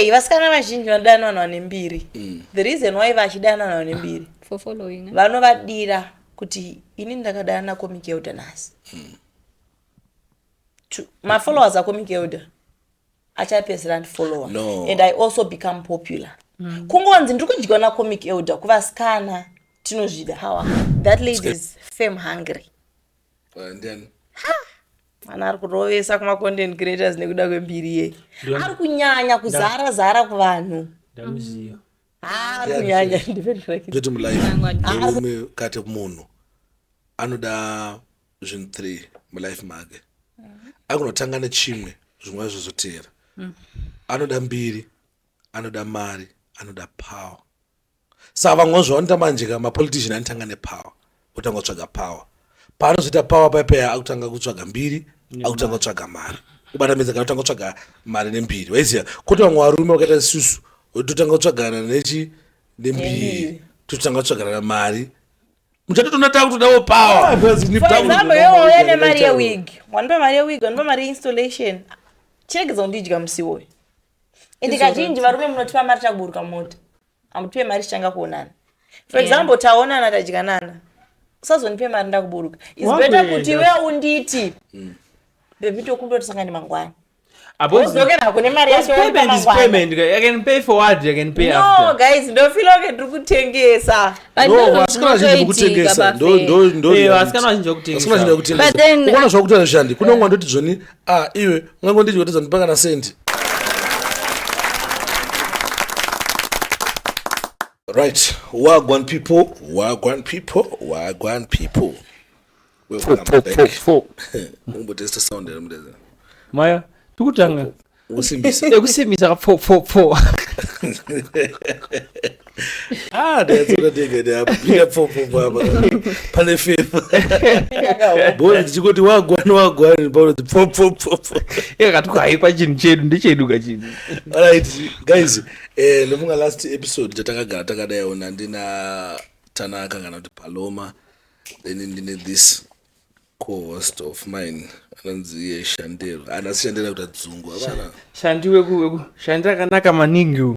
Hey, vasikana vazhinji vanodana vanhu vane mbiri mm. the reason why vachidana vanhu vane mbiri eh? vanovadira kuti ini ndakadana nakomic elder nhasi mm. mafollowers acomic elder achapedzera andifollower no. and i also become popular mm. kungonzi ndiri kudyiwa nacomic elder kuvasikana tinozvida hawa that lady is fame hungry uh, ndiani mwana ari kurovesa kumacontent creators nekuda kwembiri yei Ndiani? ari kunyanya kuzara zara kuvanhu ndamuziva Ah, ari kunyanya ndipenduraki zvetu mulife murume kati munhu anoda zvinhu three mulife make akunotanga nechimwe zvimwe zvacho zvoteera anoda mbiri anoda mari anoda power saka vamwe vanozviva vanoita manje ka mapolitician anotanga nepower otanga kutsvaga power paanozoita power paipeya akutanga kutsvaga mbiri akutanga kutsvaga mari kubatamidza kana kutanga kutsvaga mari nembiri waiziva kwoti vamwe varume vakaita isusu totanga kutsvagana nechi nembiri totanga kutsvagana mari muchatotoona takutodawo powerexample nemari yewig wanopa mari yewig wanopa mari yeinstallation chiregedza kundidya musiwoyo ende kazhinji varume munotipa mari takuburuka mota hamutipe mari tichanga kuonana for example taonana tadyanana usazonipe mari ndakuburuka is better kuti we unditi mm. bebi tokuda tisangane mangwana apozokera kune mari yachoguys ndofila ke tiri kutengesa vasikana vazhinji vakutengesa zvakuti anoshandi kunongwa ndoti zvoni ah iwe ungango ndidyo kuti zandipa kana sendi right wagwan people wagwan people wagwan people umbotesta sound mudeza maya tikutanga kusimbisa kusimbisa ka pfo pfo pfo Ah, that's what I think it up. Pia popo baba. Pale fefa. Bora tichikoti wagwana wagwana bora popo popo. Yeye katuka haipa chinhu chedu ndicheduka chinhu. All right guys, eh ndofunga last episode tatakagara takadai ona ndina Tanaka kana kuti Paloma then ndine this co-host of mine anonzi iye Shandero. Ana Shandero kuti adzungu. Shandiwe ku shandira kanaka maningi uyu.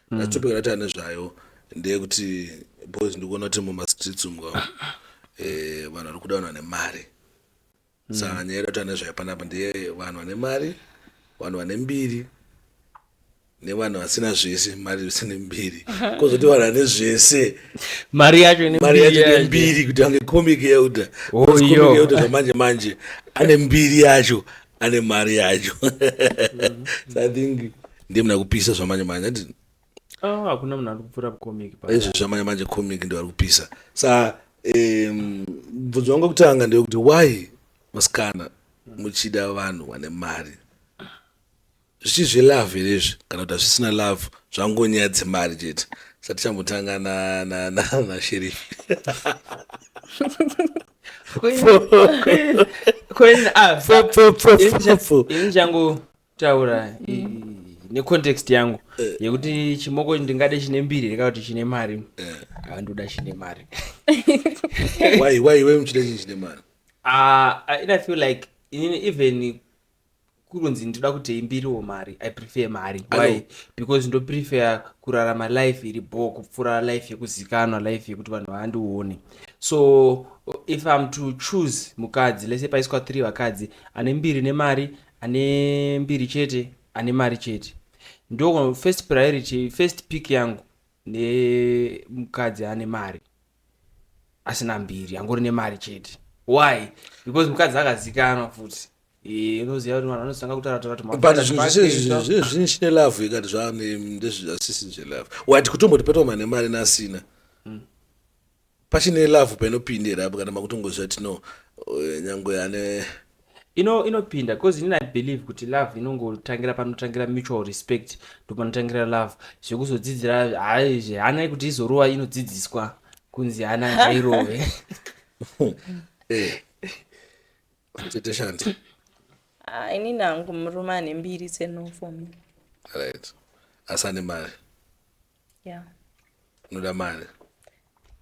mm. topic yataura nezvayo ndeyekuti boys ndikuona kuti mumastreets umu eh, vanhu vari kuda vanhu vane mari mm. saka nyaya yedu yataura nezvayo panapa ndeye vanhu vane mari vanhu vane mbiri nevanhu vasina zvese mari isine mbiri kozoti vanhu vane zvese mari yacho nembiri kuti ange comic yeuda yeuda zvamanje manje ane mbiri yacho ane mari yacho so i think ndiye muna kupisa zvamanje manje ati oh, hakuna munhu ari kupfura comic izvo zvamanje manje comic ndo ari kupisa sa mubvunzo wangu wekutanga ndewekuti why vasikana muchida vanhu vane mari zvichi zvelove here izvi kana kuti hazvisina love zvangonyaya dzemari chete satichambotanga nasherifi taura necontext yangu eh. yekuti chimoko ndingade chine mbiri reka kuti chine mari eh. andoda chine mari waiwe muchida chinyi chine mari ah, i feel like inini even kurunzi ndinoda kutei mbiriwo mari i prefer mari why because ndoprefer kurarama life iri bho kupfuura life yekuzikanwa life yekuti vanhu vaandione so if im to choose mukadzi lese paiswa three vakadzi ane mbiri nemari ane mbiri chete ane mari chete ndo first priority first pick yangu nemukadzi ane mari asina mbiri angori nemari chete why because mukadzi akazikanwa futi unoziva kuti vanhu vanotanga kutarataratumabutizvine chine love ikati zvaane ndezviasisi nje love wati kutomboti petwa mane mari nasina pachine love painopinda here apo kana makutongoziva kuti no eh, nyangwe ane ino inopinda because inini i believe kuti love inongotangira panotangira mutual respect ndopanotangira love zvekuzodzidzira haizve hanai kuti izorova inodzidziswa kunzi hana ngairove eh. tete shanti ah, inini hangu murume ane mbiri tsenofo right asi ane mari yeah. unoda mari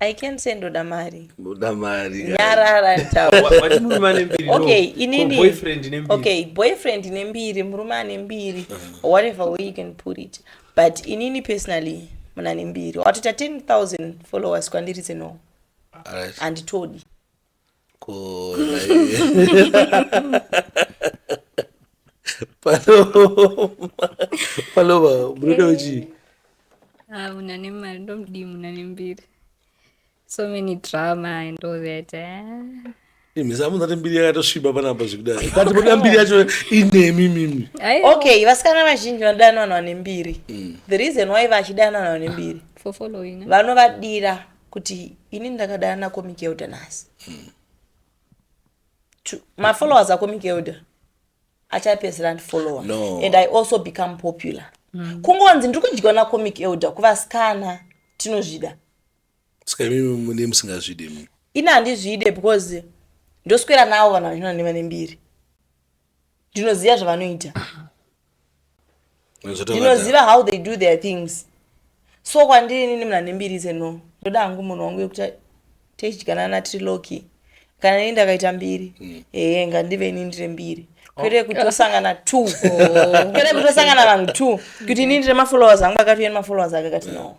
I can say ndoda mari. Ndoda mari. Nyarara taura. Wati murume ane mbiri. Okay, inini. Boyfriend ine mbiri. Okay, boyfriend ine mbiri, murume ane mbiri. Uh-huh. Whatever way you can put it. But inini personally muna ne mbiri. Watoita 10,000 followers kwandiri zeno. Alright. Anditodi. palova munoda uchii ah, una nemari ndomudii muna nembiri so many drama and all that eh? mhisamunati mbiri yakatosviba panapa zvekudai kati moda mbiri yacho inemi mimi okay vasikana vazhinji vanodanwa vanhu vane mbiri mm. the reason why vachidana vanhu vane mbiri vanovadira kuti ini ndakadana nacomic elder nhasi hmm. mafollowers acomic elder achapedzera andifollowa no. and i also become popular mm. kungonzi ndiri kudyiwa nacomic elder kuvasikana tinozvida ska imimi mune musingazvide mi ini handizvide because ndoswera nawo vanhu vachina nevane mbiri ndinoziva zvavanoita ndinoziva how they do their things so kwandiri nini munhu ane mbiri zeno ndoda hangu munhu wangu yekuti tichidyanana natriloki kana nini ndakaita mbiri mm. ee ngandive ini ndire mbiri oh. kwete kuti tosangana two oh. kwete kuti tosangana vanhu two kuti ini ndire mafollowers angu akati uye nemafollowers ake akati no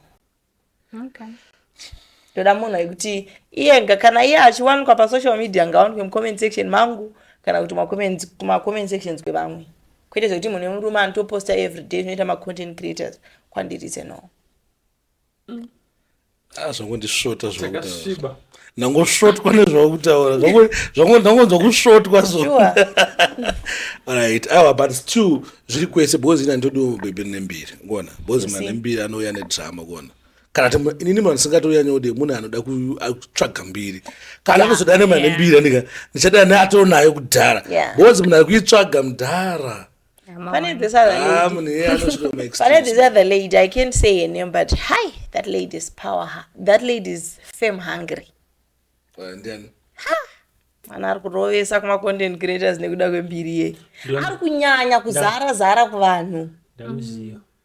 okay ndoda munhu aikuti iye kana iye achiwanikwa pasocial media ngawanikwe mucomment section mangu kana kuti kumacomment sections kwevamwe kwete zvekuti munhu wemurume anotoposta everyday zvinoita macontent creators kwandiri seno mm. ah, zvangondisvota zvakasviba ndangosvotwa nezvauri kutaura zvangonzwa kusvotwa so right awa but still zviri kwese because ina ndodi mubhebhi rine mbiri kuona because mwana nembiri anouya nedrama kuona kana ti inini mwana singatoya nyode munhu anoda kutsvaga mbiri kana kuzoda nemwana nembiri andika ndichada ne atoo nayo kudhara because munhu ari kuitsvaga mudhara Pane this other ah, lady. Pane this other lady. I can't say her name, but hi, that lady is power. That lady is fame hungry. And then. Ha. mwana ari kurovesa kumacontent creators nekuda kwembiri yei ari kunyanya kuzara zara kuvanhu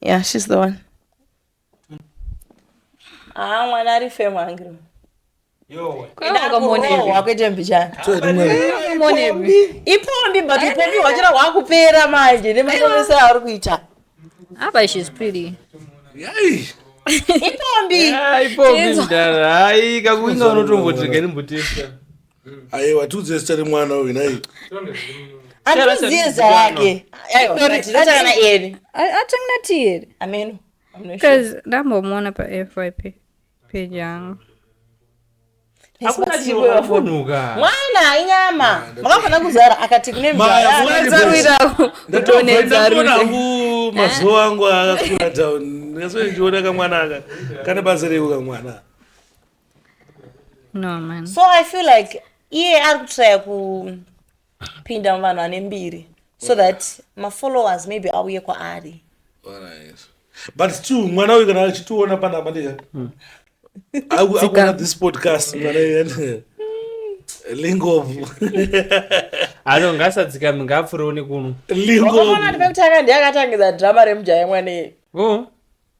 Yeah, she's the one. Ah, mwana ari fame angry. Yo. Kwaiwakambonewa kuita mbichana. Ipombi but ipombi wachira wakupera manje nemapomesa ari kuita. Apa she's pretty. Yai. Ipombi. Yeah, ipombi ndara. Ai kakuinga unotombotirika ndimbotesa. aiwa tiudze zita remwana uyu nai andiziye zita rake atangnati here ameno bcause ndambomuona pafyp peji yangu mwana inyama makafanira kuzara akati kune mazuva angu akakura down ndikasoendiona kamwana aka kane basa reko kamwana no man so i feel like iye ari kutraya kupinda muvanhu vane mbiri so that mafollowers maybe auye kwaari but still mwana uyu kana achitiona panapa ndika hmm. akuona this podcast lingovu ano ngasadzikami ngapfurewo nekuno lingovu ndive kutanga ndiye akatangidza drama remujaya mwanei oh.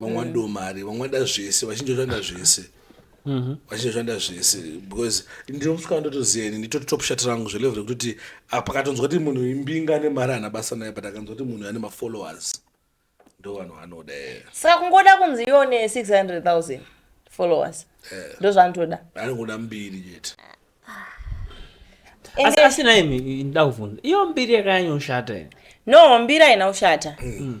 vamwe vanoda mm. mari vamwe vanoda zvese vachinja vanoda zvese mm-hmm. vachinja vanoda zvese because ndinosvika ndotoziva ini nditoti top shat rangu zvelevel rekutoti apa katonzwa kuti munhu imbinga ane mari ana basa naye but akanzwa kuti munhu ane mafollowers ndo vanhu vanoda saka kungoda kunzi ione 600 000 followers eh. ndo zvandoda anongoda mbiri chete asi asi naye ndakuvhunza iyo mbiri yakanyanyoshata ine no mbiri haina kushata mm.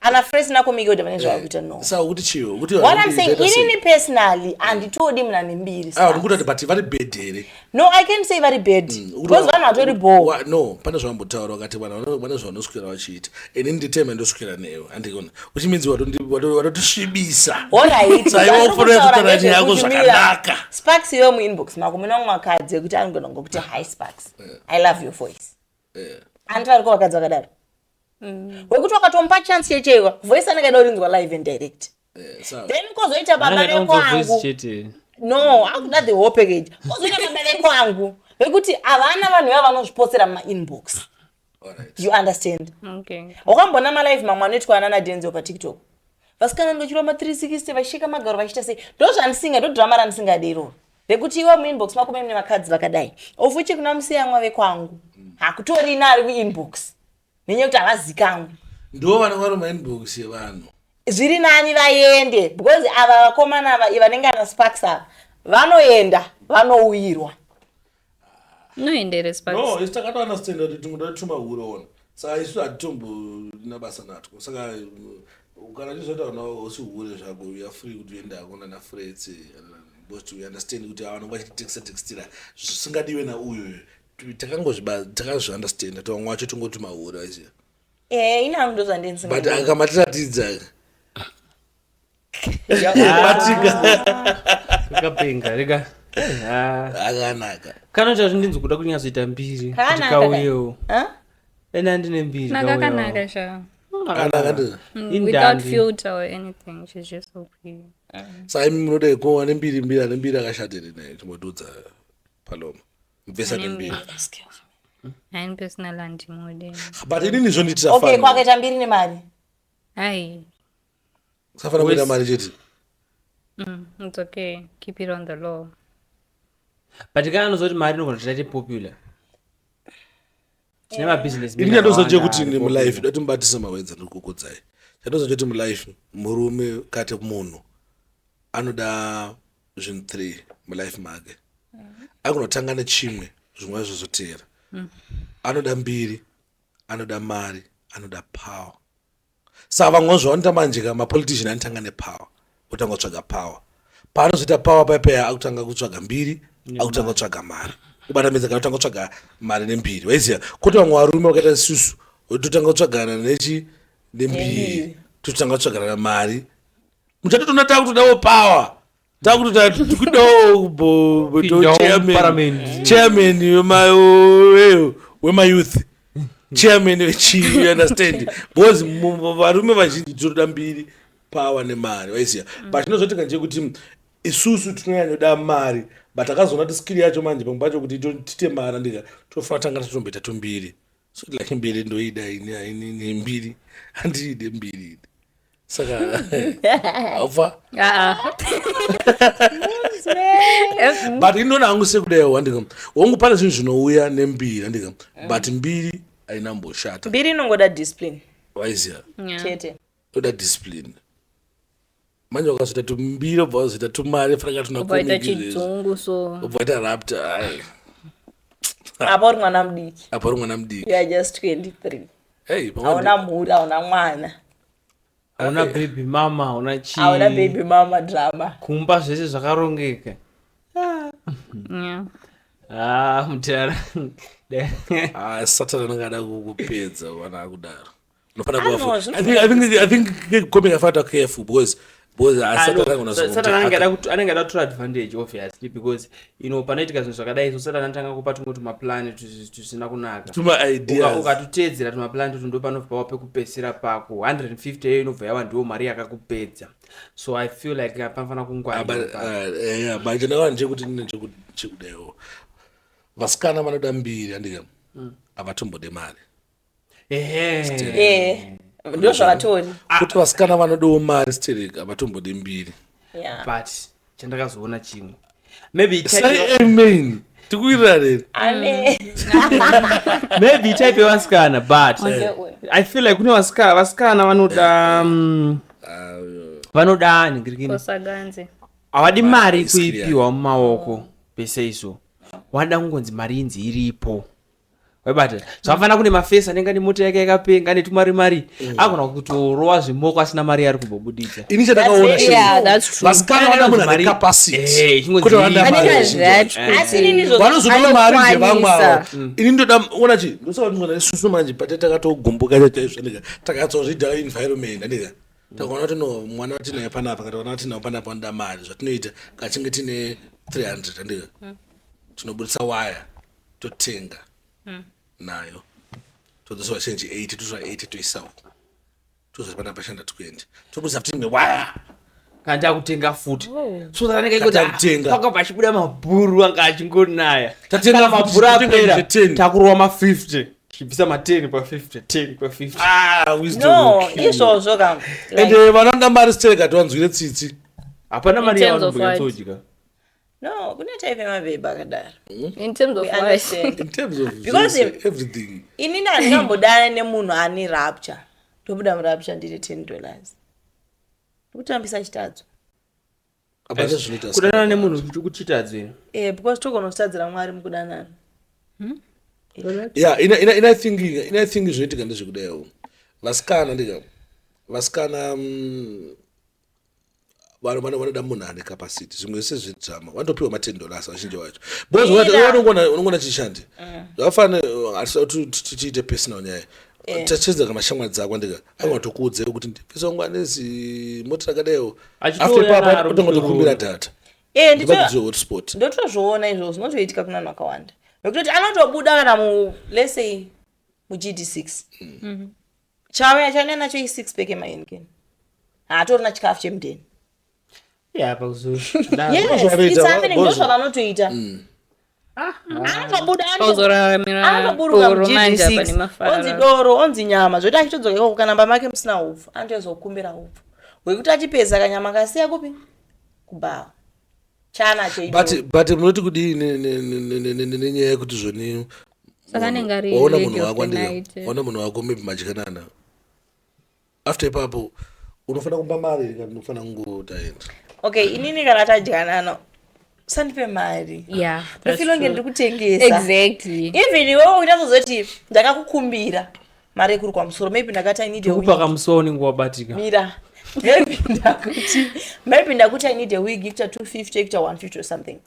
ana fresh nako mikoda vane zvavakuita eh, no sa ukuti chio ukuti what i'm saying inini personally anditodi muna nembiri ah ukuti ati but vari bad here no i can't say vari bad mm, because vanhu vatori bo no pane zvambotaura wakati vanhu vane zvavanoswera vachiita ini nditeme ndoswera newe andikona which means watotisvibisa alright waiwakureutara nyaya yako zvakanaka sparks yo muinbox mako muna mumwe akadzi yekuti anogona ngokuti hi sparks eh. i love your voice eh. hanti variko vakadzi vakadaro mm. wekuti wakatomupa chance yecheiwa voice anenge aida urinzwa live and direct eh, then kozoita baba vekwangu no akuda the whole package kozoita baba vekwangu vekuti havana vanhu vava vanozvipotsera mumainbox you understand wakamboona malive mamwe anoitwa anana denzel patiktok vasikana ndochirwa ma 360 vachisheka magaro vachiita sei ndozvandisinga ndodrama randisingade iroro vekuti iwe muinbox mako mune vakadzi vakadai of which kuna musiyamwa vekwangu hakutorina ari kuinbox nenyaya yekuti havazikamwe ndo vana vari mainbox yevanhu zviri nani vaende because ava vakomana ava vanenge ana sparks ava vanoenda vanouyirwa noenderes pa no isi takati understand kuti tumwe tati tumahure ona saka isu hatitomborina basa natwo saka uh, kana tizoita kana usi hure zvako uya free kuti uende hako nana frets because we understand kuti avanenge vachititexta textira zvisingadiwe nauyoyo takangozviba- takazviunderstanda tovamwe wacho tongoti mahure aizia Eh, ini hangu ndozvandinzi but akamatiratidza kapenga rega akanaka kana chazvo ndinzi kuda kunyatsoita mbiri kuti kauyewo ene andine mbiri nakakanaka sha sai munoda ko ane mbiri mbiri ane mbiri akashatiri naye timodudza paloma mubvesa nembiri but inini zvondiitira okay kwakaita mbiri nemari ai Safana mari chete. Mm, it's okay. Keep it on the low. But kana anozoti mari inogona kuita ti popular. Tine ma business. Ini ndozoje kuti ni mu life dati mubatisa mawenza ndikukudzai. Ndozoje kuti mu life murume kate munhu anoda zvinhu 3 mu life make. Mm-hmm. Akunotanga nechimwe zvimwe zvozoteera. Mm. Anoda mbiri, anoda mari, anoda power. sa vamwe vazvo vanoita manje ka mapolitician anotanga nepower otanga kutsvaga power paanozoita power paipeya akutanga kutsvaga mbiri akutanga kutsvaga mari kubatamidza kana kutanga kutsvaga mari nembiri waiziva koti vamwe varume vakaita susu totanga kutsvagana nechi nembiri totanga kutsvagana mari muchatotoona takutodawo power takutoda tikudawo chairman wemayouth chairman vechii you understand because varume vazhinji tinoda mbiri power nemari waiziva mm. but chinozotika nje kuti isusu tinonyanyoda mari but akazoona kuti skiri yacho manje pamwe pacho kuti tite mari andika tofanira tanga tatomboita tombiri so like mbiri ndoida ini haini nembiri handiide mbiri ini saka haufa but inoona hangu sekudaio wandika wangu pane zvinhu zvinouya nembiri handika but mbiri haina mboshata mbiri inongoda discipline waiziva Yeah. chete toda discipline manje wakazoita tumbiri obva wazoita tumari fraka tunakuita chidzungu so obva waita rapta ai apa uri mwana mudiki apa uri mwana mudiki ya just 23 hey hauna mhuri hauna mwana hauna eh. baby mama hauna chii hauna baby mama drama kumba zvese zvakarongeka ah mutara ah, satana anenge ada kukupedza vana akudaro anenge ada kutora advantage obviously because ino panoitika zvinhu zvakadai so satani anotanga kupa tumwe tumaplan tusina kunaka ukatutedzera tumaplan tutu ndopanobva pava pekupedzisira pako 150 iyo inobva yava ndiwo mari yakakupedza so i feel like panofanira kungwarimanje ndakava ndichekuti ndine chekudaiwo vasikana vanoda mbiri andika mm. havatombode mari ehe ndo zvavatori kuti vasikana vanodawo mari sterek havatombode mbiri Yeah. but chandakazoona chimwe maybe type sai yewa- amen tikuirarera Amen. maybe type yevasikana but Onde uyu. i feel like kune vasikana vasikana vanoda mm, vanoda ningirikini kosaganze havadi mari it's clear. kuipiwa mumaoko pese izvo wada kungonzi mari inzi iripo waibata zvakafanana kune mafesi anenge ane mota yake yakapenga ane tumari mari mm. agona kutorowa zvimoko asina mari yaari kumbobuditsa ini chandakaonavasikana vana munhu ane capacitywanozoda eh, mari ndevamwe avo mm. ini ndoda ona chi ndosakati mwana isusu manje pate takatogomboka chaizvanika takatsozvida environment andika takaona kuti no mwana watinaye panapa kataona watinawo panapa anoda mari zvatinoita kachinge tine 300 andika mm. tinobudisa waya totenga mm. nayo todzosa vachenji 8 totora 8 toisawo tozoti pana pashanda 20 tobudisa futi imwe waya kana takutenga futi oh. so that anenge achiutenga paka pachibuda mabhuru anga achingonaya tatenga mabhuru apera takurova ma 50 chibvisa ma 10 pa 50 10 pa 50 ah wisdom no izvozvo kanga ende vanoda mari stereka tiwanzwire tsitsi hapana mari yavanobuyatsodyika No, kune type yemabhebha akadaro. Hmm? In terms of what? In terms of Because everything. Ini ndandambodana nemunhu ane rapture. Ndobuda murapture ndine 10 dollars. Ndokutambisa chitadzo. Kudanana nemunhu kuchitadzo ino. Eh, because togona kutadzira Mwari mukudanana. Hmm? Eh. Yeah, ina ina ina think ina think zvinoitika ndezvekudayo. Vasikana ndika vasikana mm, vanhu vano vanoda munhu ane capacity zvimwe zvese zvedrama vanotopiwa maten dollars vazhinji vacho because unongona chishandi mm. zvakafanira tiite personal nyaya eh. tacheza kana shamwa dzako ndika anga tokuudze kuti ndipesongo anezi moti rakadaiwo after papa utongotokumbira data eh, ndikuziwehotspot ndotozviona izvo zvinotoitika kuna vanhu vakawanda nokutoti anotobuda kana mulesei mugd six mm. mm-hmm. chavo yachanya nacho isix peke mahenikeni haatorina chikafu chemudeni yesitsamenendozvavanotoita mm. ah, anotobudaanotoburuka mugdsi onzi doro onzi nyama zvoita achitodzoka ikoko kana mba make musina upfu anotoezokumbira upfu hwekuti achipedza kanyama kasiya kupi kubhawa chana cheicho but munoti kudii nenyaya yekuti zvoni waona munhu wako ndiona munhu wako maybe madyanana after ipapo unofanira kumba mari kana unofanira kungotaenda okay inini kana tadyanana sandipe mari ndofilonge ndiri kutengesa even iwewe uchazoziva kuti ndakakukumbira mari yekuri kwamusoro maybe ndakati i need a wig pakamusuwa unenge wabatika mira maybe ndakuti maybe ndakuti i need a wig ikuta 250 ikuta 150 or something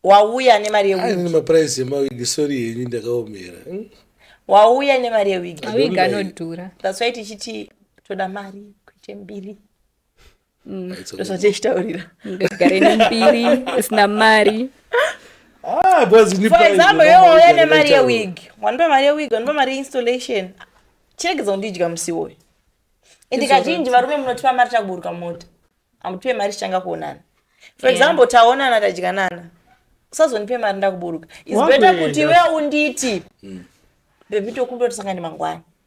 wauya nemari yewig maprice emawig sorry henyu ndakaomera hmm? wauya nemari yewig awig anodhura that's why tichiti toda mari kuite mbiri mm. ndosati ichitaurira ndigare nembiri isina mari ah, for example yowouya nemari yewig wandipa mari yewig wandipa mari yeinstallation chiregedza kundidya musi woyo ende kazhinji varume munotipa mari takuburuka mota amutipe mari tichanga kuonana for example taonana tadyanana usazonipe mari ndakuburuka is better kuti iwe unditi hmm. bebitokundoti sangani mangwana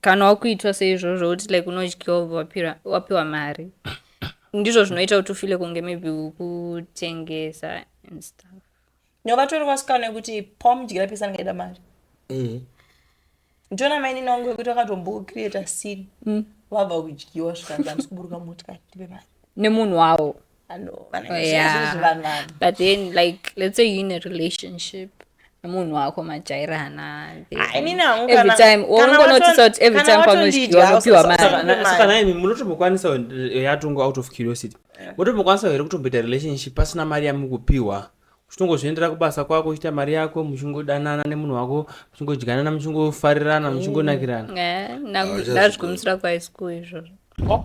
kana wakuitwa seizvozvo uti like unodyiwa ubva wapiwa mari ndizvo zvinoita kuti ufile kunge maybe ukutengesa and stuff no vatori vasikana yekuti pamudyira pesa ndingaida mari mm. ndiona mainini wangu yekuti vakatombocreata sin mm. vabva kudyiwa zvikanzi andisi kuburuka motikari ndipe mari nemunhu wavo Oh, yeah. but then like let's say you're in a relationship munhu wako majairana every time unongonotisa kuti every time paunodyiwa unopiwa marisakanaimi munotombokwanisa eh, yatongo out of curiosity munotombokwanisa here kutomboita relationship pasina mari yamukupiwa uchitongozviendera kubasa kwako uchiita mari yako muchingodanana nemunhu wako muchingodyanana muchingofarirana muchingonakirana ndazvikumisira kwaischool izvozvo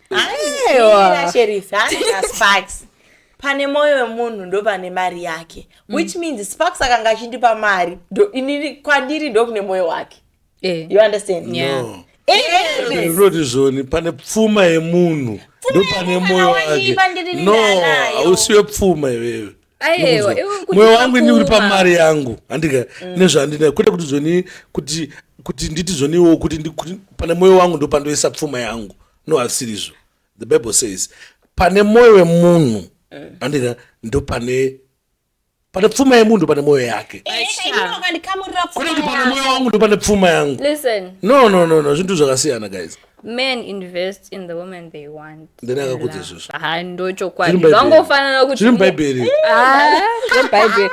aiwa sheriff haana sparks pane mwoyo wemunhu ndo pane mari yake mm. which means sparks akanga achindipa mari kwandiri ndokune mwoyo wake eh. you understand yeah. no. ndinoti zvoni pane pfuma yemunhu ndo pane mwoyo wake no hausiwe pfuma iwewe ayewa mwoyo wangu ini uri pamari yangu handika mm. nezvandina kwete kuti zvoni kuti kuti nditi zvoniwo kuti pane mwoyo wangu ndopandoisa pfuma yangu no hasirizvo the bible says pane mwoyo wemunhu mm. handika mm. ndopane pane pfuma yemunhu pane mwoyo yake eh, eh, kune kuti pane mwoyo wangu ndopane pfuma yangu no no no no zvinhu zvakasiyana guys men invest in the woman they want ndini akakudza izvozvo ha ndochokwadi vangofanana kuti zviri mubhaibheri mubhaibheri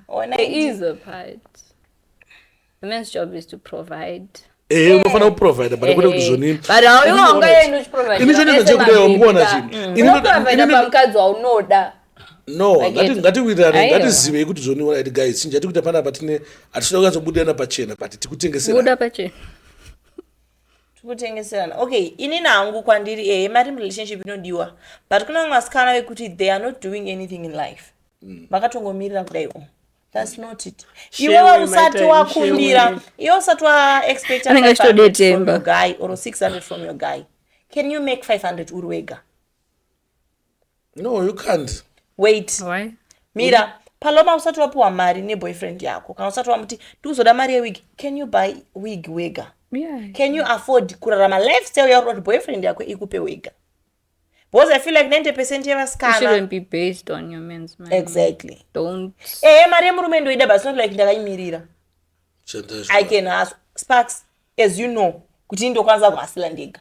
ona is a part the man's job is to provide ehe eh, unofanira kuprovida but kwete kuti zvonini ini zvonini zvakuda yawo mukuona chinhu no Like ngati- it- ngatiwirirane Aiwa. ngatizivei kuti zvoniona iti guys chinja tikuita panapa tine hatitoda kunyatsobudirana pachena but tikutengesera buda pachena tikutengeserana okay ini nangu kwandiri ehe mari relationship inodiwa but kune vamwe vasikana vekuti they are not doing anything in life vakatongomirira kudai o thats not it Shame iwewe my usati time, wakumbira shame. iwe usati waexpecta Anenge achitodetemba. guy or 600 from your guy can you make 500 uri wega no you can't wait Why? mira paloma usati wapiwa mari neboyfriend yako kana usati wamuti ndikuzoda mari yewig can you buy wig wega Yeah. can you afford kurarama lifestyle yauri kuti boyfriend yako ikupe wega because i feel like 90 percent It yevasikana shouldn't be based on your man's money. exactly Don't. ehe mari yemurume ndoida but it's not like ndakaimirira Chandazvo. i can ask sparks as you know kuti ndokwanisa kuhasila ndega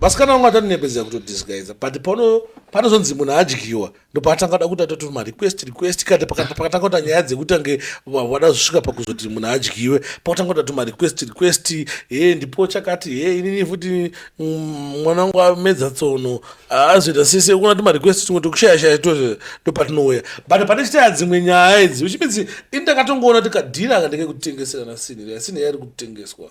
Vasikana vangu atanonepedzera kuto disguiser but pano panozonzi munhu adyiwa ndopaatanga da kuti atoti ma request request kati pakatanga kuta nyaya dzekuti ange vada zvisvika pakuzoti munhu adyiwe pakutanga kuta tuma request request he ndipo chakati he inini futi mm, mwana wangu amedza tsono azoita sese kuna tuma request tumwe tokushaya shaya to ndopatinouya but pane chitaya dzimwe nyaya idzi which means ini ndakatongoona tikadhira aka ndenge kutengeserana sinhi yasini yairi kutengeswa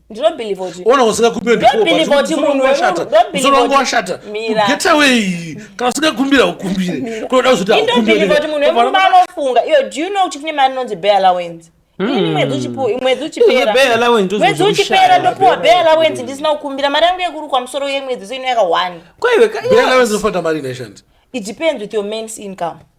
ona usingakupira ndiwashata musoro wangu washata get away kana usingakumbira ukumbire kunoda kuzoti akumbiranofunga iyo do you know kuti kune mari inonzi bay allowance hmm. mwedzi uchipera ndopiwa bay allowance ndisina kukumbira mari yangu yekurukwa musoro yemwedzi so inoyaka one kwaiwe bay allowance inofanira mari inashandi it depends with your mains income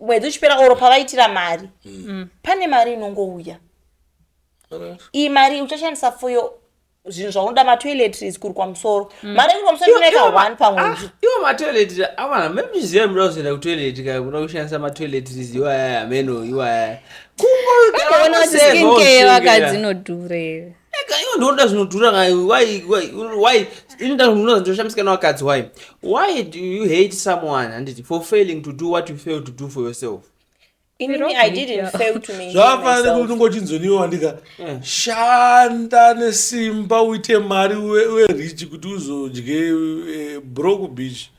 mwedzi uchipera oro pavaitira mari mm. pane mari inongouya iyi mari uchashandisa for your zvinhu zvaunoda matoiletries kuri kwamusoro mm. mari kuri kwamusoro inoita one pamwedzi ah, iwo matoiletri avana memiziva muda kuzoenda kutoiletri ka kuda kushandisa matoiletries iwaya ameno iwaya kungoona kuti skincare vakadzinodhurera ega iwe ndinoda zvinodhura ndinoshamisika navakadzi why why do you hate someone handiti for failing to do what you fail to do for yourself zvavafanira kuti ungochinzoniwo wandika eh. shanda nesimba uite mari uve rich kuti uzodye eh, broke beach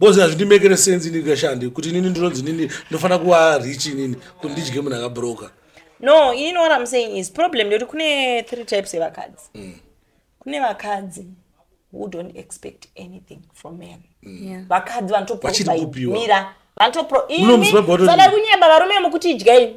Boss hazvindi mekere sense ini kashandi kuti inini ndinonzi nini ndofana kuva rich inini kuti ndidye munhu akabroka. No, you know what I'm saying is problem ndoti kune three types evakadzi. Mm. Kune vakadzi who don't expect anything from men. Mm. Yeah. Vakadzi vanotopiwa. Mira. Vanotopiwa. Imi, sada kunyeba varume mukuti idyai.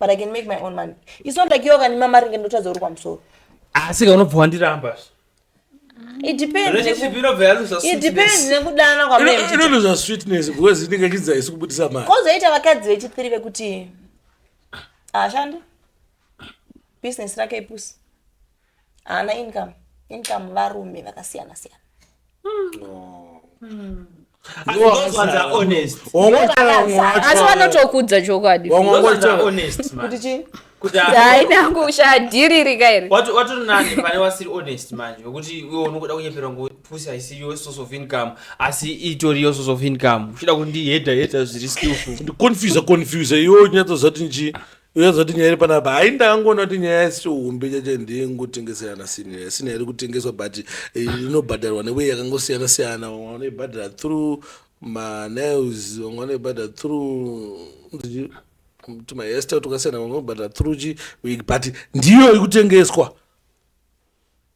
but i can make my own money it's not like iwe kandima mari nge ndotadza uri kwamusoro asi ka unobva wandiramba it depends relationship inobva yaluza it depends sweetness nekudana kwamene inonozva sweetness because inenge ichidza isi kubudisa mari kozoita vakadzi vechithiri vekuti haashandi business rake ipusi haana income income varume vakasiyana siyana asi vanotokudza chokwadi kuti chii hainangu ushaya dhiri rika iri watori nani pane wasiri honest manje wekuti iwe unokuda kunyeperwa ngopusi haisi yo source of income asi itori yo source of income uchida kundihedha hedha zviri skillful ndiconfuse confuse iwe unyatsoziva kuti nji uyozoti nyaya iri panapa hai ndangoona kuti nyaya yasiri humbi chacho ndingotengeserana sina sina iri kutengeswa but eh, inobhadharwa newei yakangosiyana siyana vamwe vanoibhadhara through manails vamwe vanoibhadhara through tumaester tukasiyana vamwe vanobhadhara through chi but ndiyo iri kutengeswa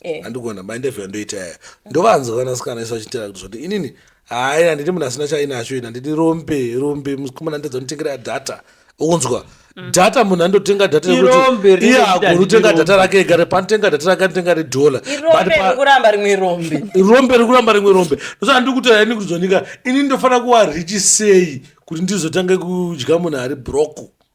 Eh. andigona mainterview andoita yaya ndovanzwa vanasikana isu vachitera kuti zvoti inini hayi handidi munhu asina chainacho ini handidi rombe rombe mukomana ndidza nditengera data ukunzwa data munhu andotenga data Mm. Irombe rekuti rine iye kuti agoni kutenga handidi data rombe. rake ega panotenga data rake anotenga redhola irombe rekuramba rimwe rombe rombe rekuramba rimwe rombe ndosaka ndiri kutaura ini kuti zvonika ini ndofanira kuva richi sei kuti ndizotange kudya munhu ari broko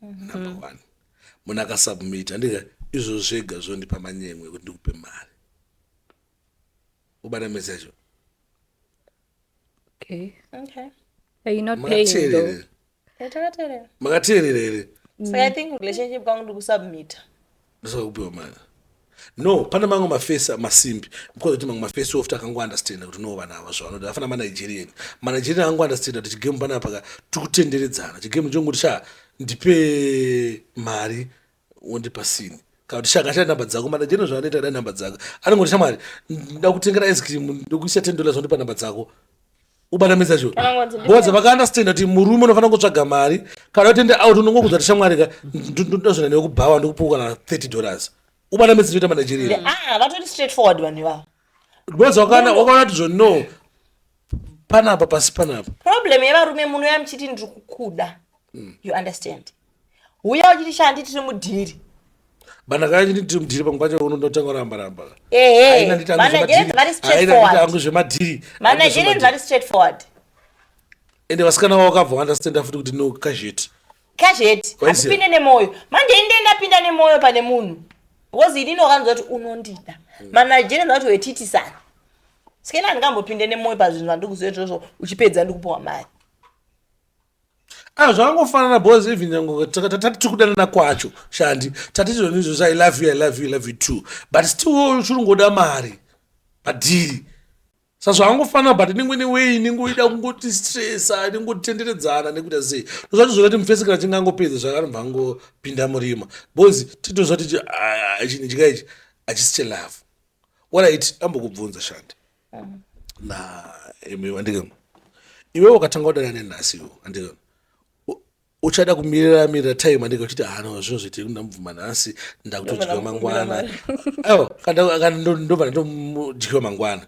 number one munhu akasubmit handika izvo zvega zvondipa manyemwe ekuti ndikupe mari ubata mese yacho makateerera here saka i think relationship kwangu ndikusubmita ndosaka kupiwa mari no pane mamwe mafesi masimbi because kuti mamwe mafesi ofti akangounderstanda kuti no vanhu ava zvavanoda afana manigerian manigerian akangounderstanda kuti chigame panapaka tiri kutenderedzana chigame chonguti sha ndipe mari wondipa sini kana kuti shaka shaya nhamba dzako manigerian zvaanoita da nhamba dzako anongoti shamwari ndakutengera ice cream ndokuisa ten dollars wondipa nhamba dzako ubanamisa cho Anongonzi ndi- boza vakaunderstanda kuti murume unofanira kutsvaga mari kana utende out unongokudza kuti shamwari ka ndozvina newe kubhawa ndikupuka na 30 dollars ubanamisa choita manigeria Ah, vatori straight forward vanhu ivavo boza wakaona wakaona kuti zvo no panapa pasi panapa problem yevarume muno yamuchiti ndiri kukuda you understand huya uchiti shandi tiri mudhiri bana kaya chini tiri mudhiri pamwe pacho unotanga kuramba ramba ehe managerian vari straightforward zvemadhiri managerian vari straightforward and vasikana vavo kabva understand futi kuti no kazheti kazheti asipinde nemoyo manje inde ndapinda nemoyo pane munhu because ini ndokanzwa kuti unondida hmm. managerian vati wetitisana sikena handingambopinde nemoyo pazvinhu vandikuzoitozvo uchipedza ndikupiwa mari Ah, zvakangofanana bos even nyange tati tiri kudanana kwacho shandi tati zvoni izvozvo i love you i love you i love you too but still chiri ngoda mari padhiri sa zvakangofanana but inenge ine wei inenge uida kungoti stressa inenge utitenderedzana nekuita sei ndozvati zvoda kuti mufese kana chinge angopedza zvakanobva angopinda murima bos titozva titi ah, chinhu chika ichi hachisi chelove waraiti ambokubvunza shandi naimiwo andikam iwewe ukatanga kudana nenhasiwo andikam uchada kumirira mirira time andika uchiti hano ah, zvinhu zviti ndamubvuma nhasi ndakutodyiwa mangwana aiwa ndobva ndomudyiwa mangwana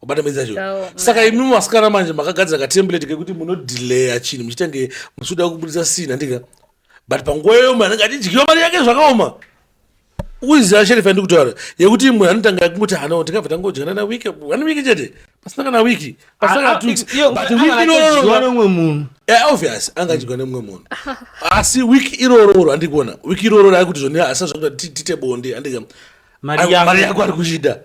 wabata ah. maiza zvo saka imi masikana manje makagadzira katemplate kekuti munodelayer chinhu muchitange muchida kubudisa sina ndika but panguva yoyo manenge achidyiwa mari yake zvakaoma uiziva sheriff yandiri kutaura yekuti imwe anotanga yakungoti hanawo tikabva tangodyana na wiki one wiki chete pasina kana wiki pasina kana two weeks but wiki iroro nomwe munhu eh, obvious anga achidyiwa nemumwe munhu asi wiki irororo andiri kuona wiki irororo ari kuti zvoni asi zvakuda tite bonde andika mari yako ari kuchida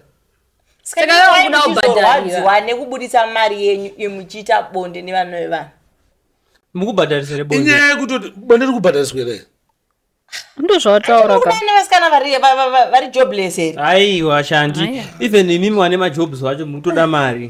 sakaokudaubhadhariwa nekubudisa mari yenyu imuchiita bonde nevana vevanhu mukubhadharisere bonde inyaya yekutoti bonde rikubhadhariswa here ndozvawataura ka vana vasikana vari va- va- va- vari jobless here aiwa shandi Aiwa. even imimi wane majobs wacho mutoda mari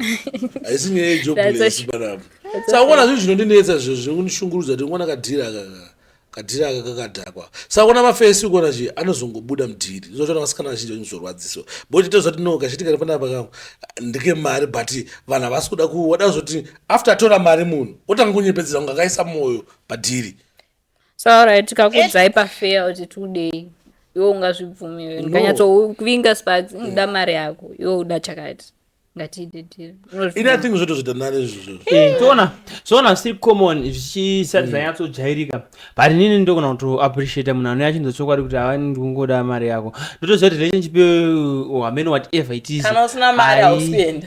haisi nyaya That's yejobless a- panapa saka kuona zvinhu zvinondinetsa zvo zvinondishungurudza kuti kuona kadhiri aka ka- kadhiri aka kakadhakwa saka kuona mafesi ukuona chi anozongobuda mudhiri zvotoona vasikana vazhinji vachizorwadziso boti tozoti no kachitika ri panapa kangu ndike mari but vanhu havasi kuda kuda kuzoti after atora mari munhu otanga kunyepedzera kunge akaisa mwoyo padhiri so alright tikakudzai pafeya kuti tudei iwe ungazvibvumiwe ndikanyatsovinga sparks inoda mm, mari yako iwe uda chakati ngatiidetirinothing zvoto zvidanani izvozvoona eh, zvoona zviri common zvichisati mm. zvanyatsojairika but inini ndogona kuto appreciate munhu anouya achinza chokwadi kuti ava ndikungoda mari yako ndotoziva kuti relationship yoyo oh, hameno whatever it is kana usina mari hausienda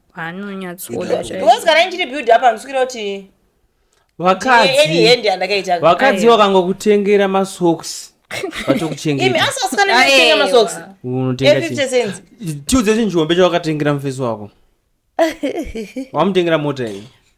anonyatsoda because kana ndichiri build up andisikira kuti vakadzi vakangokutengera masocks vatokuchengetiudze chinjombe chawakatengera mufesi wako wamutengera mota iyi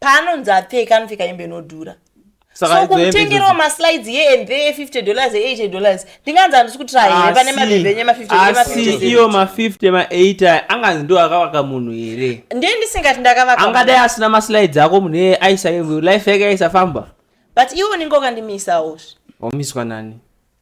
paanonzi apfeka anopfeka hembe inodhura so kumutengerawo maslides ye and there 50 dollars e 80 dollars ndinganzi handisi kutira here pane mabhebhe enye ma50asi iyo ma50 ma8 anganzi ndo akavaka munhu here ndiye ndisingati ndakavaka angadai asina maslides ako munhu eye aisa life yake aisafamba but iwe unenge wakandimisawo wamiswa nani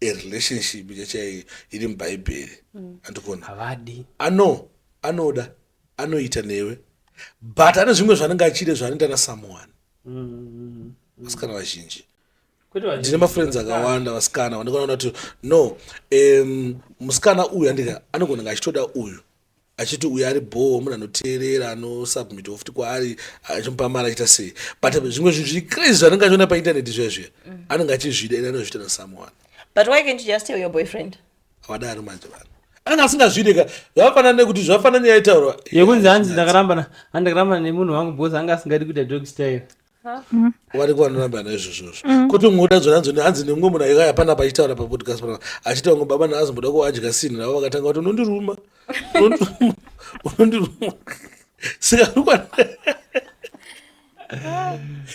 a relationship chachai iri mubhaibheri mm. andikona havadi ano anoda anoita newe but ane zvimwe zvanenge achide zvaanoita nasomeone mm. vasikana vazhinji ndine mafriends akawanda vasikana vandikona kuti no um, musikana uyu andika anogona nga achitoda uyu achiti uyu ari bhoo munhu anoteerera anosubmit ofti kwaari achimupa mari achiita sei but zvimwe zvinhu zviri crazy zvanenge achiona paintaneti zviya zviya mm. anenge achizvida ene anozviita nasomeone but why can't you just tell your boyfriend wadaro manje vanhu anenge asingazvide ka zvakafanana nekuti zvakafanana nyaya itaurwa yekunzi hanzi ndakarambana hanzi ndakarambana nemunhu wangu bcause anga asingadi kuita dog style variko vanoramba naizvozvozvo mm. kuti umwe udadzo nanzo hanzi nemumwe munhu aiva hapana pachitaura papodcast pana achiti vamwe baba naanzi mboda kuadya sini navo vakatanga kuti unondiruma unondiruma saka rikwana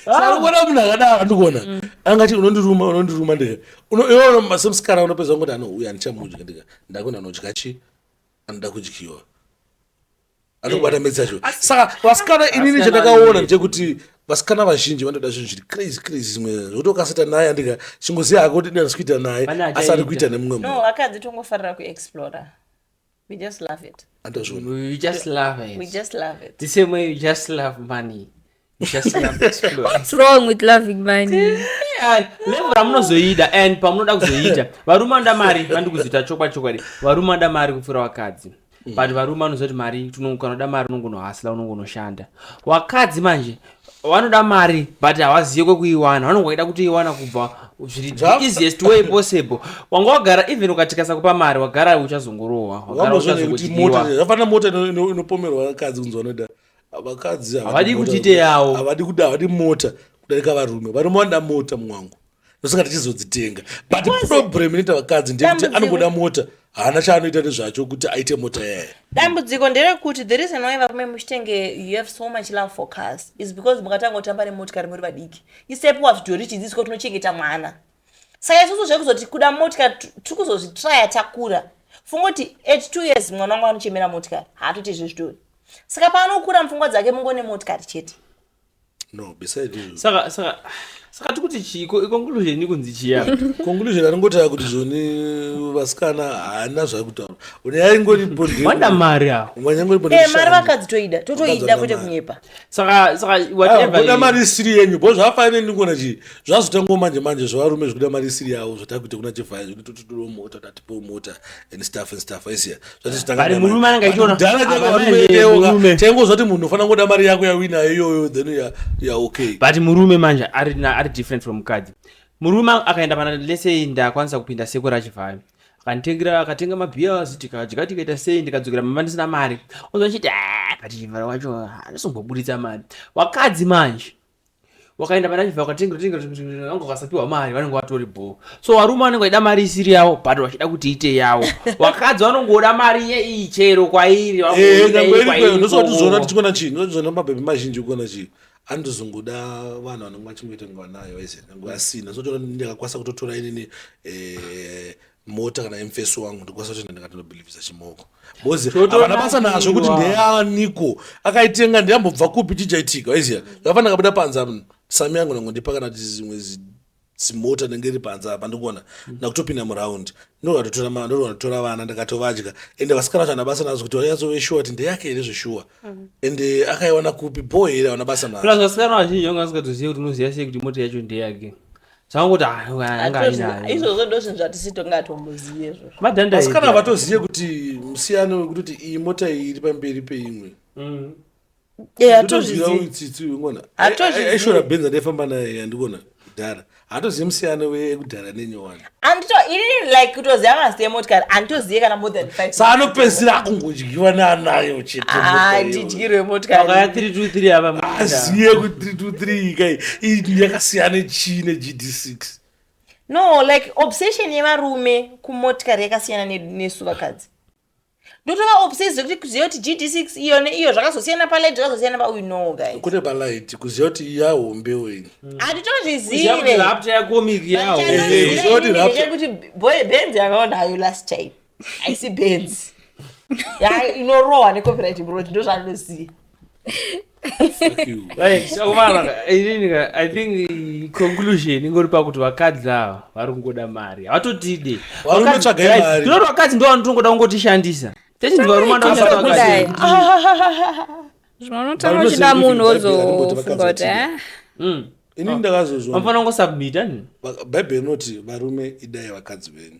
sakuona munhu akadaro ndikuona mm. angati unondiruma unondiruma ndika iona masemusikana unopedza kuti anouya ndichamudya ndika ndakuna anodya chi anoda kudyiwa anobata mhedzi yacho saka vasikana inini chandakaona ndechekuti vasikana vazhinji vanotoda zvinhu zviri crazy crazy zvimwe zvotokasita naye andika chingoziva hako kuti ndina zvikuita naye asi ari kuita nemumwe munhu vakadzi tongofarira kuexplora we just love it andozviona we just love it we just love it the same way you just love money levo ramunozoida and pamunoda kuzoiita varume vanoda mari vandikuzoita chokwa chokwadi varume vanoda mari kupfuura vakadzi mm. but varume vanozoti mari kanoda mari unongonohasla unongonoshanda vakadzi manje vanoda mari but havazive kwekuiwana vanonga vaida kutoiwana kubva zviri easiest way possible wanga wagara even ukatikasa kupa mari wagara uchazongorohwa wagara uchazongotiiwa mota inopomerwa vakadzi kunzi vanoda vakadzi havadi kutite yawo havadi kuda havadi mota kudarika varume varume vanoda mota mwangu nosaka tichizodzitenga but problem inoita vakadzi ndeyekuti anongoda mota haana chaanoita nezvacho kuti aite mota yaye dambudziko nderekuti the reason why varume muchitenge you have so much love for cars is because mukatanga kutamba nemotikari muri vadiki isepo wazvidhori chidzidziswa tinochengeta mwana saka isusu zvekuzoti kuda motikari tiri kuzozvitraya takura funga kuti at two years mwana wangu anochemera motikari haatoite izvo zvitori saka paanokura mupfungwa dzake mungo nemotikari chete no beside izvo saka saka saka tiri kuti chii Ko- conclusion ikunzi chiya conclusion aringotaura kuti zvoni vasikana haana zvaikutaura une yaingori wanda mari awo wanyangori Eh, mari vakadzi toida totoida kwete kunyepa saka saka whatever kuda mari isiri yenyu bho zvafanire ndikuona chii zvazotangawo manje manje zvevarume zvekuda mari isiri yavo zvatakuita kuna chivhayo zvekuti tototoro mota tatipewo mota and staff and staff aisiya zvatizotangaari murume anenge achiona dhala chakarumeeoka chaingo zvati munhu unofanira kungoda mari yako yawina iyoyo then ya ya okay but murume manje ari ari different from mukadzi murume akaenda pana lese ndakwanisa kupinda seko rachivhayo akanditengera akatenga mabhiyazi tikadya tikaita sei ndikadzokera mama ndisina mari ozvachiti ah, kati chivhara wacho anosomboburitsa mari wakadzi manje wakaenda pana chivhara ukatengerange ukasapiwa mari vanenge vatori bho so varume vanenge vaida mari isiri yavo but vachida kuti ite yavo wakadzi vanongoda mari yeiyi chero kwairi eh, ndosatizoona tichikona chii ndozviona mabhebhi mazhinji ukona chii andizongoda vanhu vanenge vachingoita nguva nayo ese nguva asina sotoona ndakakwanisa kutotora inini eh, mota kana emfesi wangu ndikwanisa kutoenda ndikatondobhilivhisa chimoko bcause havana basa nazvo kuti ndeyaniko akaitenga ndeyambobva kupi chijaitika waiziva zvafana ndakabuda panza sami yangu nangondipa kana tizimwe zimota ndenge iri panze apa ndikuona ndakutopinda muround ndorwatotora vana ndakatovadya ende vasikana vacho anabasa nazo kuti vaiazove shuwa kuti ndeyake here zveshuwa mm. ende akaiwana kupi bho here aona basa nazo plus vasikana vazhinji vanga vasingatozive kuti unoziva sei kuti mota yacho ndeyake zvangoti aizvozvo ndozvinhu zvatisi tongatombozive zvovasikana vatozive kuti musiyano wekutoti iyi mota iyi iri pamberi peimwe mm. atozvizivaitsitsuonaaishorabhenza ndaifamba naye andikona kudhara hatozivi musiyano wekudhara nenyowani andito inini like kutoziva mazita emotikari anditozive kana more than five sa anopedzisira akungodyiwa neanayo cheteandidyirwe ah, motikariaya three two three avaazive kuti three two three ikai ii yakasiyana chii negd six no like obsession yevarume kumotikari yakasiyana nesu vakadzi ndotova obsessed kuti kuziva kuti gd6 iyo neiyo zvakazosiyana palight zvakazosiyana pauyu no guys kune palight kuziva kuti yahombe wenyu handitozvizive rapta yakomiki yahoekuti benzi yakaona hayo last time aisi benzi inorohwa necopyright brot ndozvandinoziva i think conclusion ingori pakuti vakadzi ava vari kungoda mari havatotide tinoti vakadzi ndo vanotongoda kungotishandisa techinzi varume ndovanotaura uchida munhu wozofunga kuti eh? hmm. ini ndakazozvamfanira kungosubmita bhaibheri inoti varume idai vakadzi venyu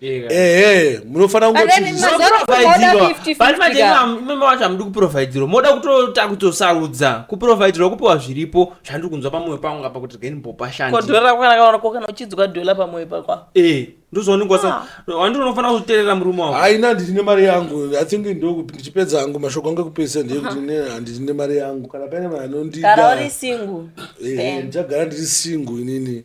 ehe munofanira kungoimimi wacho hamudi kuprovidhirwa moda kutota kutosarudza kuprovidhirwa kupiwa zviripo zvandiri kunzwa pamwoyo pangu ngapa kuti rgeni bopashandikana uchidzoka dola pamwoyo pakwa eh, ndozooningwasa wandi ah. unofanira kuzoterera murume wavo haina ndine mari yangu i think ndichipedza hangu mashoko angu ekupedzisa ndeyekuti ndine mari yangu kana paine vanhu anondidaara uri singu eh, ndichagara ndiri singu inini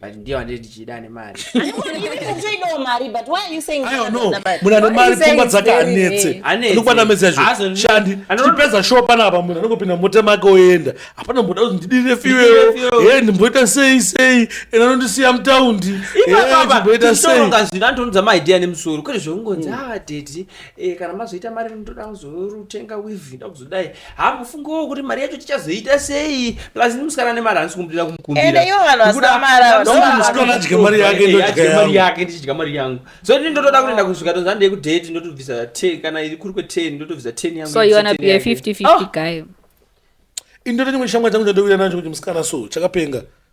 but ndiye wandiri ndichida ane mari toidawo mari but why are you saying munhu ane mari pfungwa dzake anetse anokwana mezi yacho shandi tichipedza show panapa munhu anongopinda mota make oenda hapana mboda kuti ndidire fiweo e ndimboita sei sei ena anondisiya mutaundi mboita seizvino antonudza maidea nemusoro kwete zvekungonzi mm. ava ah, dedi Eh, kana mazoita mari ndoda kuzorutenga weave ndoda kuzodai ha mufungowo kuti mari yacho tichazoita sei plus ni musikana nemari handisi kumudira kumukumbira ndodya mari yake ndodya mari yake ndichidya mari yangu so ini ndotoda kuti ndakusvika tonzi handei kudate ndotobvisa ten kana iri kuri kwe-ten ndotobvisa ten yangu so you wanna be a 50-50 ah! guy indoto chimwe shamwari changu chandouya nacho kuti musikana so chakapenga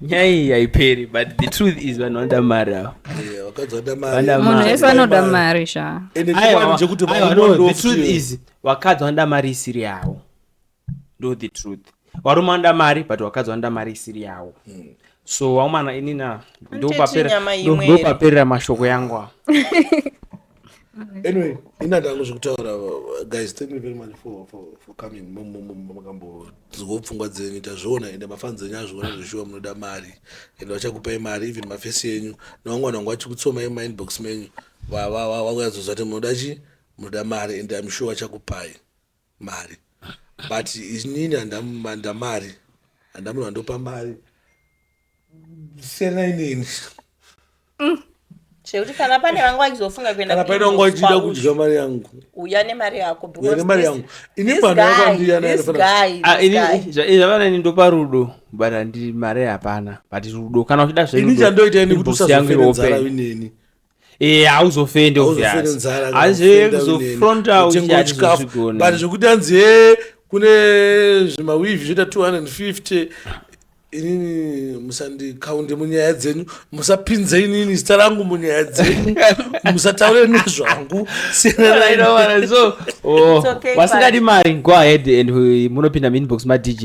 nyai haiperi but the truth is vanhu vanoda mari avo munhu wese anoda mari sha the truth is vakadzi vanoda mari isiri yavo ndo the truth varume vanoda mari but vakadzi vanoda mari isiri yavo hmm. so waumana inina ndopaperera mashoko yangu anyway ina ndangu zvekutaura guys thank you very much for, for, for coming makambodzirwa pfungwa dzenyu tazviona ende mafans enyu azviona zveshuwa munoda mari ende vachakupai mari even mafesi yenyu nevangwana vangu vachikutsomai mumainbox menyu vakuyazoziva kuti munoda chii munoda mari ende amsure vachakupai mari but inini handamanda mari handamunhu andopa mari siyana inini mm. zvekuti kana pane vanga vachizofunga kuendakana pane vanga vachida kudya mari yangu uya nemari yako nemari yangu ini mwana wako andiyanazvavana ini ndopa rudo but andi mari hapana but rudo kana uchida zvaini chandoita ini kuti usazoferenzara ineni ee eh, hauzofende uzofronta uchatichikafubat zvekuti anzi e kune zvimawivi zvoita 250 inini musandikaunde munyaya dzenyu musapinze inini zita rangu munyaya dzenyu musataure nezvangu siyanaaso oh, wasingadi mari go ahead and munopinda muinbox madj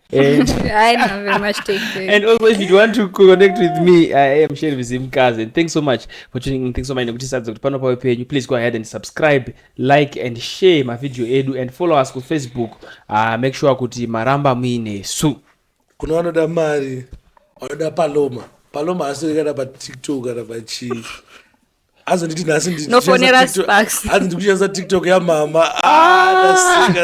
And, I know very much take care. and also if you want to connect with me i am sheri vizimkazi and thanks so much for tuning in thanks so much nekuti sadza kuti pano pawe penyu please go ahead and subscribe like and share mavhidhiyo edu and follow us kufacebook uh, make sure kuti maramba muinesu kuna vanoda mari vanoda paloma paloma haasiri kana patiktok kana pachii azonditi nhasi hanzi ndikushandisa tiktok yamama ndasika